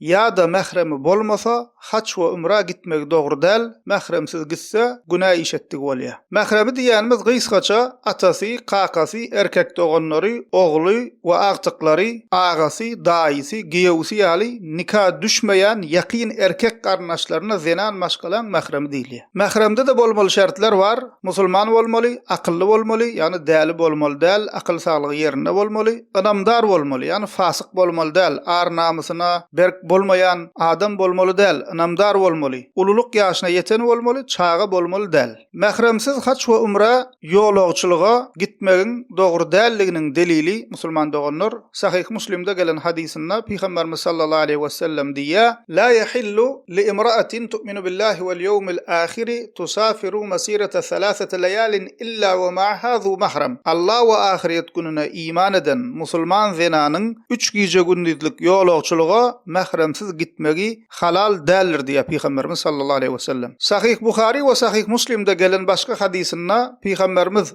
Ýa-da mähremi bolmasa, haç we ümra gitmegi dogry däl, mähremsiz gitse, günä iş etdigi bolýa. Mähremi diýýänimiz gysgaça, atasy, kakasy, erkek doganlary, ogly we agtyklary, agasy, daýysy, giýewisi ýaly nika düşmeýän ýakyn erkek garyndaşlaryna zenan maşgalaň mähremi diýilýär. Mähremde-de bolmaly şertler bar, musulman bolmaly, akylly bolmaly, ýagny däli bolmaly däl, akyl saglygy ýerinde bolmaly, Ynamdar bolmaly, ýagny fasyk bolmaly däl, ar-namysyna berk bolmaýan adam bolmaly däl, ynamdar bolmaly, ululyk ýaşyna ýeten bolmaly, çaga bolmaly däl. Mähremsiz haç we umra, ýolagçylyga, gitmegiň dogry däldiginiň delili, musulman doganlar, Sahyh Muslimde gelen hadysynda Pygamberimiz sallallahu aleýhi wesellem diýýär, La ýahillu Li imra'atin tu'minu billahi wal ýewmil ahiri tusafiru masirata salasati layalin illa wa ma'aha zu mahram, Alla we ahyret gününe iman eden musulman zenanyň üç gije-gündizlik ýolagçylyga mähremsiz gitmegi halal däldir diýýär Pygamberimiz sallallahu aleýhi wesellem. Sahyh Buhari we Sahyh Muslimde gelen başga hadysynda Pygamberimiz,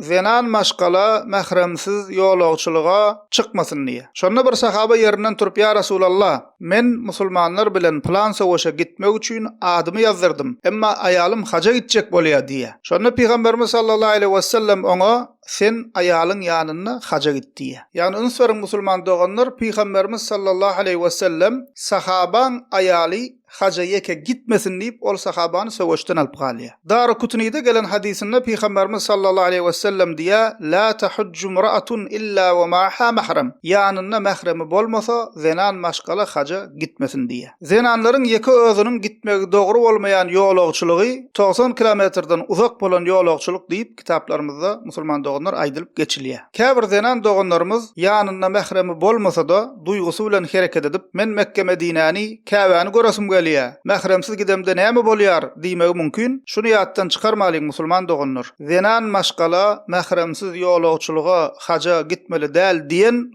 Zenan maşgala mähremsiz ýolagçylyga çykmasyn diýýär. Şonda bir sahaba ýerinden turup, Ýa Resulallah, men musulmanlar bilen pylan söweşe gitmek üçin adymy ýazdyrdym, emma aýalym haja gitjek bolýar diýýär. Şonda Pygamberimiz sallallahu aleýhi wesellem oňa, Sen aýalyň ýanynda haja git diýýär. Ýagny üns beriň musulman doganlar, Pygamberimiz sallallahu aleýhi wesellem sahabaň aýaly Haja ýeke gitmesin diýip, ol sahabany söweşden alyp galýar. Darukutynyda gelen hadysynda Pygamberimiz sallallahu aleýhi wesellem diýýär, La tahujju mraatun illa we maaha mahram, ýanynda mähremi bolmasa, zenan maşgala haja gitmesin diýýär. Zenanlaryň ýeke özüniň gitmegi dogry bolmaýan ýolagçylygy togsan kilometrden uzak bolan ýolagçylyk diýip, kitaplarymyzda musulman doganlar aýdylyp geçilýär. Käbir zenan doganlarymyz ýanynda mähremi bolmasa-da, duýgusy bilen hereket edip, Men Mekge-Medinäni, Käbäni göresim gelýär. Mähremsiz gidemde näme bolýar? diýmegi mümkin. Şuny ýatdan çykarmalyň, musulman doganlar. Zenan maşgala mähremsiz ýolagçylyga, haja, gitmeli däl diýen